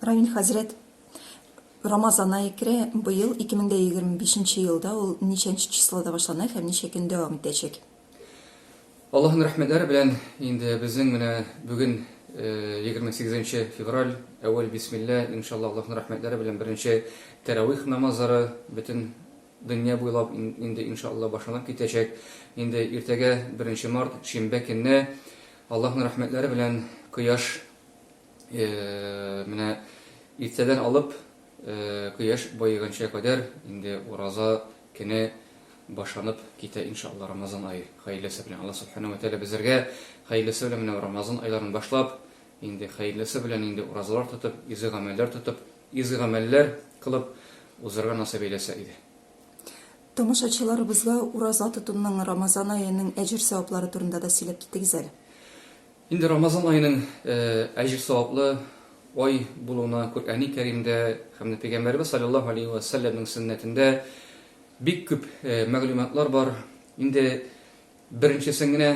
Равин хәзрәт Рамазана икре быел 2025 елда ул ничәнче числода башлана һәм ничә көн дәвам итәчәк? Аллаһның рәхмәтләре белән инде безнең менә бүген 28 нче февраль, әүвәл бисмилла, иншалла Аллаһның рәхмәтләре белән беренче тәравих намазлары бөтен дөнья буйлап инде иншалла башланып китәчәк. Инде иртәгә беренче март, шимбә көнне Аллаһның рәхмәтләре белән кояш Менә иртәдән алып кояш баеганча кадәр инде ураза көне башланып китә иншалла рамазан ае хәерлесе белән алла субхана ва тәгалә безләргә хәерлесе белән менә рамазан айларын башлап инде хәерлесе белән инде уразалар тотып изге гамәлләр тотып изге гамәлләр кылып узарга насыйп әйләсә иде Тамашачыларыбызга ураза тотуның рамазан аеның әҗер-саваплары турында да сөйләп китегез әле. Инде Рамазан аеның әҗер-саваплы ай булуына Коръәни Кәримдә һәм дә Пәйгамбәребез салләллаһу галәйһи вә сәлләмнең сөннәтендә бик күп мәгълүматлар бар. Инде беренчесен генә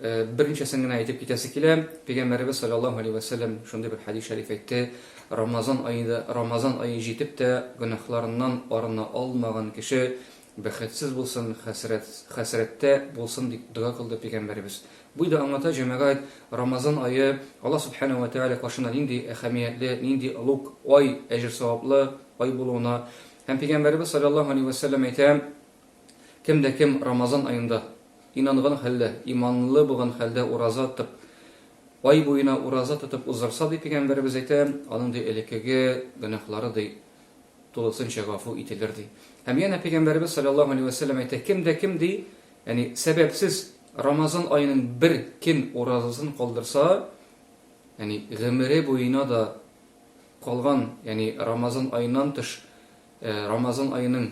берничәсен генә әйтеп китәсе килә. Пәйгамбәребез салләллаһу галәйһи вә сәлләм шундый бер хәдис шәриф әйтте, Рамазан аенда Рамазан ае җитеп тә гөнаһларыннан арына алмаган кеше Бәхетсез булсын, хәсрәт, хәсрәттә булсын, дип дога кылды Пәйгамбәребез. Буй да аңлата, җәмәгать, Рамазан ае Аллаһ Сүбхәнәһү вә Тәгалә каршында нинди әһәмиятле, нинди олуг ай, әҗер-саваплы ай булуына һәм Пәйгамбәребез салләллаһу алейһи вә сәлләм әйтә, Кем дә кем Рамазан аенда, инанган хәлдә, иманлы булган хәлдә ураза тып, ай буена ураза тотып уздырса, ди Пәйгамбәребез әйтә, аның, ди, элеккеге гөнаһлары, ди, тулысынча гафу ителер, ди. Һәм янә Пәйгамбәребез салләллаһу алейһи вә сәлләм әйтә, кем дә кем, ди, яни сәбәпсез Рамазан аеның бер көн уразасын калдырса, яни гомере буена да калган, яни Рамазан аеннан тыш Рамазан аеның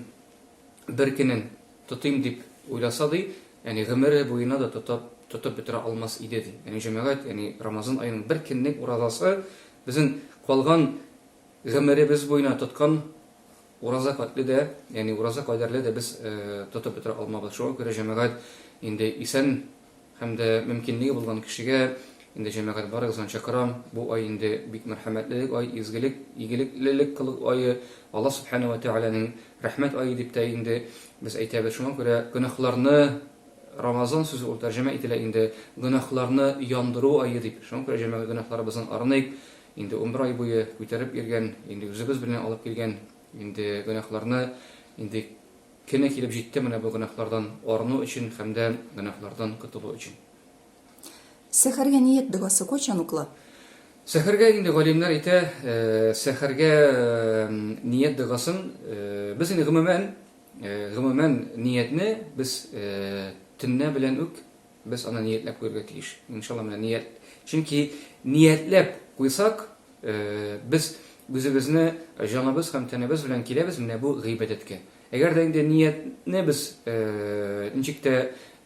бер көнен тотыйм дип уйласа, ди, яни гомере буена да тотып, тотып бетерә алмас иде, ди. Яни җәмәгать, яни Рамазан аеның бер көнлек уразасы безнең калган Гомеребез буена тоткан ураза патли дә, ягъни ураза кадәрле дә без тотып бетерә алмабыз. Шуңа күрә җәмәгать инде исән һәм дә мөмкинлеге булган кешегә, инде җәмәгать барыгызны чакырам, бу ай инде бик мәрхәмәтлелек ай, изгелек, игелеклелек кылу ае, Алла Сүбхәнәһү вә Тәгаләнең рәхмәт ае дип тә инде без әйтәбез. Шуңа күрә гөнаһларны, Рамазан сүзе ул тәрҗемә ителә инде, гөнаһларны яндыру ае дип. Шуңа күрә җәмәгать гөнаһларыбыздан арыныйк, Инде унбер ай буе күтәреп йөргән, инде үзебез белән алып килгән инде гөнаһларны инде көне килеп җитте менә бу гөнаһлардан арыну өчен һәм дә гөнаһлардан котылу өчен. Сәхәргә ният догасы кайчан укыла? Сәхәргә инде галимнәр әйтә, сәхәргә ният догасын без инде гомумән, гомумән ниятне без төнлә белән үк Без аны ниятләп куярга тиеш. Иншалла, менә ният. Чөнки ниятләп куйсак, без үзебезне җаныбыз һәм тәнебез белән киләбез менә бу гыйбадәткә. Әгәр дә инде ниятне без ничек тә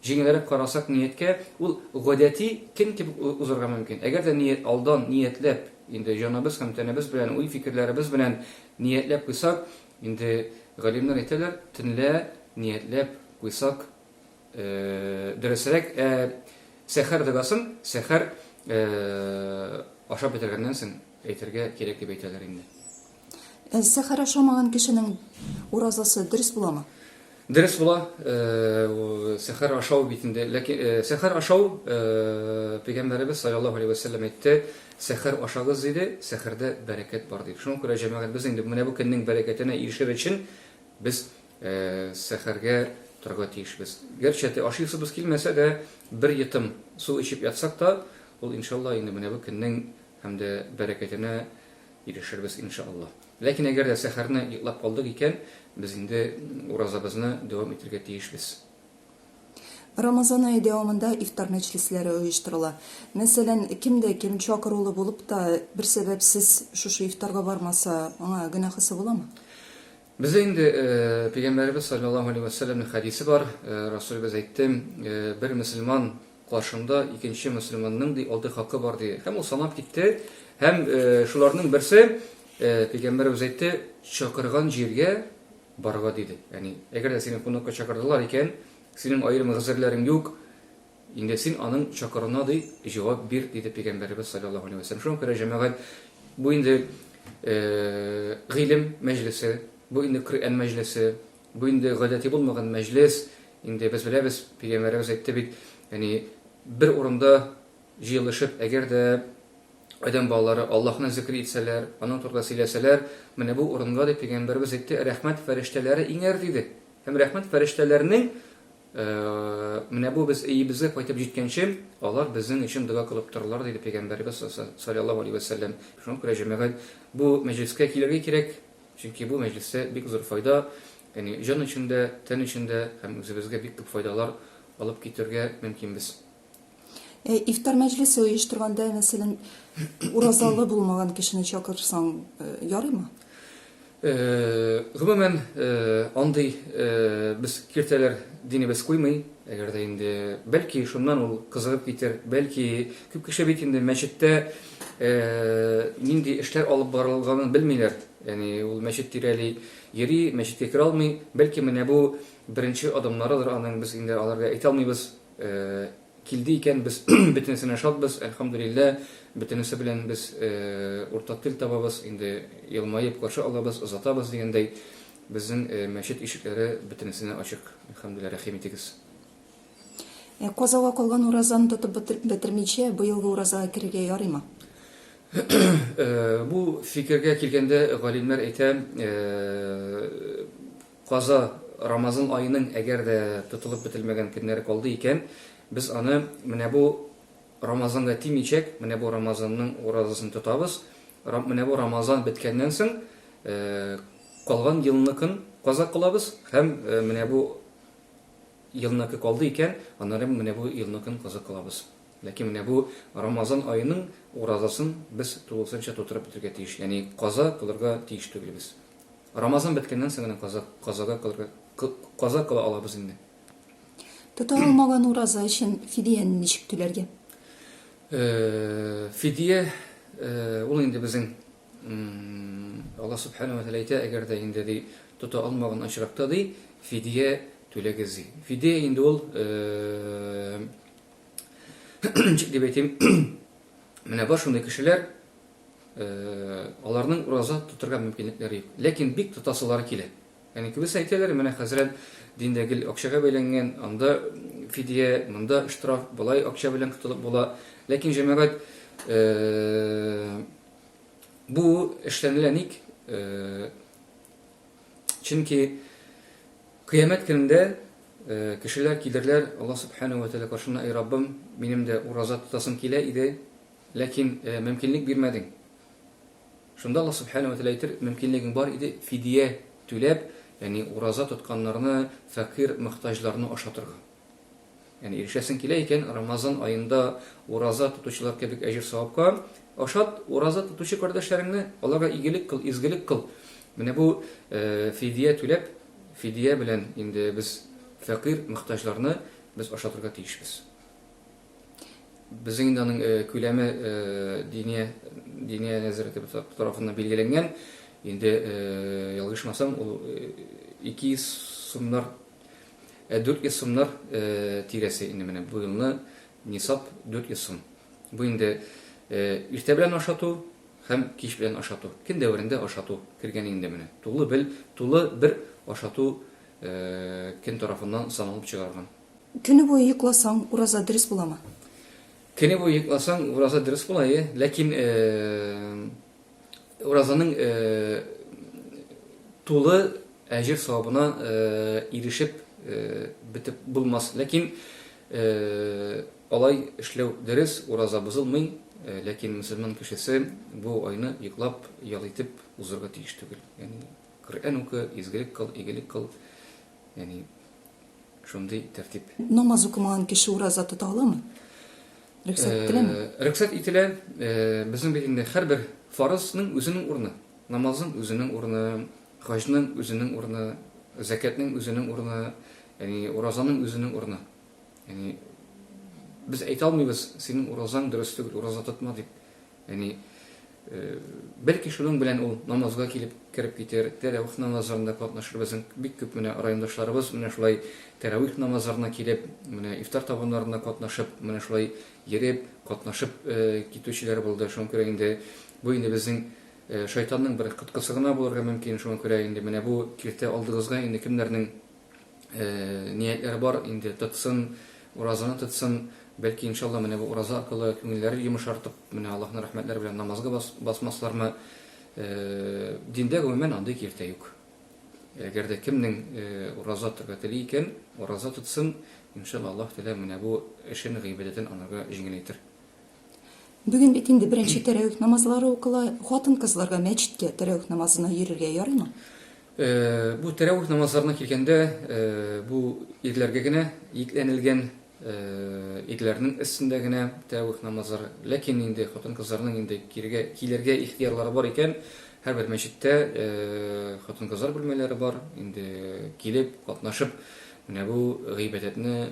җиңелрәк карасак нияткә, ул гадәти көн кебек узарга мөмкин. Әгәр дә ният алдан ниятләп, инде җаныбыз һәм тәнебез белән, уй-фикерләребез белән ниятләп куйсак, инде галимнәр әйтәләр, төнлә ниятләп куйсак, Дөресрәк, сәхәр догасын сәхәр ашап бетергәннән соң әйтергә кирәк дип әйтәләр инде. Сәхәр ашамаган кешенең уразасы дөрес буламы? Дөрес була. Сәхәр ашау бит инде. Ләкин сәхәр ашау пәйгамбәребез саллаллаһу алейһи ва саллям әйтте, сәхәр ашагыз диде, сәхәрдә бәрәкәт бар дип. Шуңа күрә җәмәгать без инде менә бу көннең бәрәкәтенә ирешер өчен без Сәхәргә торырга тиешбез. Гәрчә дә ашыйсыбыз килмәсә дә, бер йотым су эчеп ятсак та, ул иншалла инде менә бу көннең һәм дә бәрәкәтенә ирешербез иншалла. Ләкин әгәр дә сәхәрне йоклап калдык икән, без инде уразабызны дәвам итәргә тиешбез. Рамазан ае дәвамында ифтар мәҗлесләре оештырыла. Мәсәлән, кем дә кем чакырулы булып та, бер сәбәпсез шушы ифтарга бармаса, аңа гөнаһысы буламы? Бездә инде Пәйгамбәребез салләллаһу алейһи вә сәлләмнең хәдисе бар, Расулебез әйтте, Бер мөселман каршында икенче мөселманның, ди, алты хакы бар, ди. Һәм ул санап китте, һәм шуларның берсе, Пәйгамбәребез әйтте, Чакырган җиргә барырга, диде. Ягъни, әгәр дә сине кунакка чакырдылар икән, синең аерым гозерләрең юк, Инде син аның чокырына ди җавап бир, диде Пәйгамбәребез салләллаһу галәйһи вә сәлләм. Шуңа күрә, җәмәгать, бу инде гыйлем мәҗлесе, бу инде Коръән мәҗлесе, бу инде гадәти булмаган мәҗлес, инде без беләбез, Пәйгамбәребез әйтте бит, ягъни бер урында җыелышып, әгәр дә адәм балалары Аллаһны зикер итсәләр, аның турында сөйләсәләр, менә бу урынга, дип Пәйгамбәребез әйтте, рәхмәт фәрештәләре иңәр, диде. Һәм рәхмәт фәрештәләренең Менә бу без өебезгә кайтып җиткәнче, алар безнең өчен дога кылып торырлар, диде Пәйгамбәребез салләллаһу галәйһи вә сәлләм. Шуңа күрә, җәмәгать, бу мәҗлескә килергә кирәк, чөнки бу мәҗлестә бик зур файда, ягъни җан өчен дә, тән өчен дә һәм үзебезгә бик күп файдалар алып китергә мөмкинбез. Э, ифтар мәҗлесе оештырганда мәсәлән уразалы булмаган кешене чакырсаң э, ярыймы э, гомумән андый без киртәләр динебез куймый әгәр дә инде бәлки шуннан ул кызыгып китер бәлки күп кеше бит инде мәчеттә нинди эшләр алып барылганын белмиләр яни ул мәчет тирәли йөри мәчеткә керә алмый бәлки менә бу беренче адымнарыдыр аның без инде аларга әйтә алмыйбыз Килде икән, без бөтенесенә шатбыз, әлхәмдүлилләһ, бөтенесе белән без уртак тел табабыз, инде елмаеп каршы алабыз, озатабыз дигәндәй, безнең мәчет ишекләре бөтенесенә ачык, әлхәмдүлилләһ, рәхим итегез. Ә казага калган уразаны тотып бетермичә, быелгы уразага керергә ярыймы? Бу фикергә килгәндә, галимнәр әйтә, Каза, Рамазан аеның әгәр дә тотылып бетелмәгән көннәре калды икән, без аны менә бу Рамазанга тимичәк, менә бу Рамазанның уразасын тотабыз, менә бу Рамазан беткәннән соң калган елныкын каза кылабыз һәм менә бу елныкы калды икән, анырым менә бу елныкын каза кылабыз. Ләкин менә бу Рамазан аеның уразасын без тулысынча тутырып бетергә тиеш, ягъни каза кылырга тиеш түгелбез. Рамазан беткәннән соң гына каза, казага кылырга, кы, каза кыла алабыз инде. Тота алмаган ураза өчен фидияне ничек түләргә? Э, фидия, э, ул инде безнең Алла Субхану Атала әйтә, әгәр дә инде ди, тота алмаган очракта ди, фидия түләгез ди. Фидия инде ул э, ничек дип әйтим, менә бар шундый кешеләр, аларның ураза тотырга мөмкинлекләре юк. Ләкин бик тотасылары килә. Яни кебесе әйтәләр, менә хәзрәт диндә гел акчага бәйләнгән, анда фидия, монда штраф, болай акча белән котылып була. Ләкин җәмәгать бу эшләнелә ник? Чөнки кыямәт көнендә кешеләр килерләр, Алла субхана ва тәгалә каршына, "Эй Раббым, минем дә ураза тотасым килә иде, Ләкин мөмкинлек бирмәдең. Шунда Аллаһ Сүбхәнәһү вә Тәгалә әйтер, мөмкинлегең бар иде, фидия түләп, ягъни ураза тотканнарны, фәкыйрь, мохтаҗларны ашатырга. Ягъни ирешәсең килә икән, Рамазан аенда ураза тотучылар кебек әҗер-савапка, ашат ураза тотучы кардәшләреңне, аларга игелек кыл, изгелек кыл. Менә бу фидия түләп, фидия белән инде без фәкыйрь, мохтаҗларны без ашатырга тиешбез. Безнең инде аның күләме Диния Диния нәзарәте тарафыннан билгеләнгән. Инде ялгышмасам, ул 200 сумнар, 400 сумнар тирәсе инде менә бу елны нисап 400 сум. Бу инде иртә белән ашату һәм кич белән ашату. Көн дәверендә ашату кергән инде менә. Тулы бел, тулы бер ашату кем тарафыннан саналып чыгарган. Көне буе йокласаң, ураза дөрес буламы? Көне буе йокласаң, ураза дөрес була, әйе. Ләкин уразаның тулы әҗер савабына ирешеп бетеп булмас. Ләкин алай эшләү дөрес, ураза бозылмый, ләкин мөселман кешесе бу айны йоклап, ял итеп узарга тиеш түгел. Ягъни Коръән укы, изгелек кыл, игелек кыл. Яни шундый тәртип. Намаз укымаган кеше ураза тота аламы? Рөхсәт э, ителәме? Рөхсәт ителә. Э, безнең бит инде һәрбер фарызның үзенең урыны. Намазның үзенең урыны, хаҗның үзенең урыны, закәтнең үзенең урыны, яни уразаның үзенең урыны. Яни без әйтә алмыйбыз, синең уразаң дөрес түгел, ураза тотма дип. Яни бәлки шуның белән ул намазга килеп кереп китер, тәравих намазларында катнашыр, безнең бик күп менә райондашларыбыз менә шулай тәравих намазларына килеп, менә ифтар табыннарына катнашып, менә шулай йөреп, катнашып китүчеләр булды, шуңа күрә инде бу инде безнең шайтанның бер коткысы гына булырга мөмкин, шуңа күрә инде менә бу киртә алдыгызга инде кемнәрнең ниятләре бар, инде тотсын, уразаны тотсын, бәлки, иншалла, менә бу ураза аркылы күңелләре йомышартып, менә Аллаһның рәхмәтләре белән намазга басмаслармы? Диндә, гомумән, андый киртә юк. Әгәр дә кемнең ураза тотарга тели икән, ураза тотсын, иншалла, Аллаһ Тәгалә менә бу эшен, гыйбадәтен анарга җиңеләйтер. Бүген бит инде беренче тәрәвих намазлары укыла. Хатын-кызларга мәчеткә тәрәвих намазына йөрергә ярыймы? Э, бу тәрәвих намазларына килгәндә, э, бу ирләргә генә йөкләнелгән э, ирләрнең өстендә генә тәрәвих намазлары. Ләкин инде хатын-кызларның инде кирегә килергә ихтыярлары бар икән, һәрбер мәчеттә хатын-кызлар бүлмәләре бар. Инде килеп, катнашып, менә бу гыйбадәтне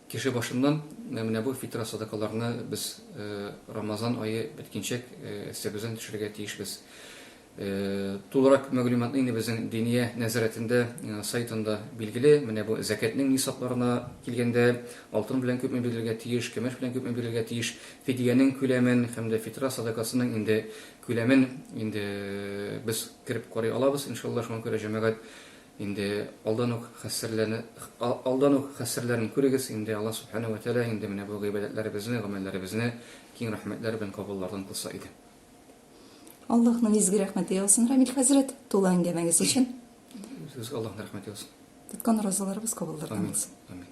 Кеше башыннан менә бу фитра садакаларны без Рамазан ае беткенчәк эстәбездән төшерергә тиешбез. Тулырак мәгълүматны инде безнең Диния нәзарәтендә сайтында билгеле. Менә бу зәкятьнең нисапларына килгәндә, алтын белән күпме бирелергә тиеш, көмеш белән күпме бирелергә тиеш, фидиянең күләмен һәм дә фитра садакасының инде күләмен инде без кереп карый алабыз, иншалла, шуңа күрә җәмәгать Инде алдан ук хәссрләрне алдан ук хәссрләрен күрегез инде Аллаһ Субхана вә Тәгалә инде менә бу гыйбадәтләребезне, гамәлләребезне киң рәхмәтләр белән кабуллардан кылса иде. Аллаһның изге рәхмәте яусын, Рамил хәзрәт, тулы әңгәмәгез өчен. Үзегезгә Аллаһның рәхмәте яусын. Тоткан уразаларыбыз кабуллардан булсын. Амин. Амин.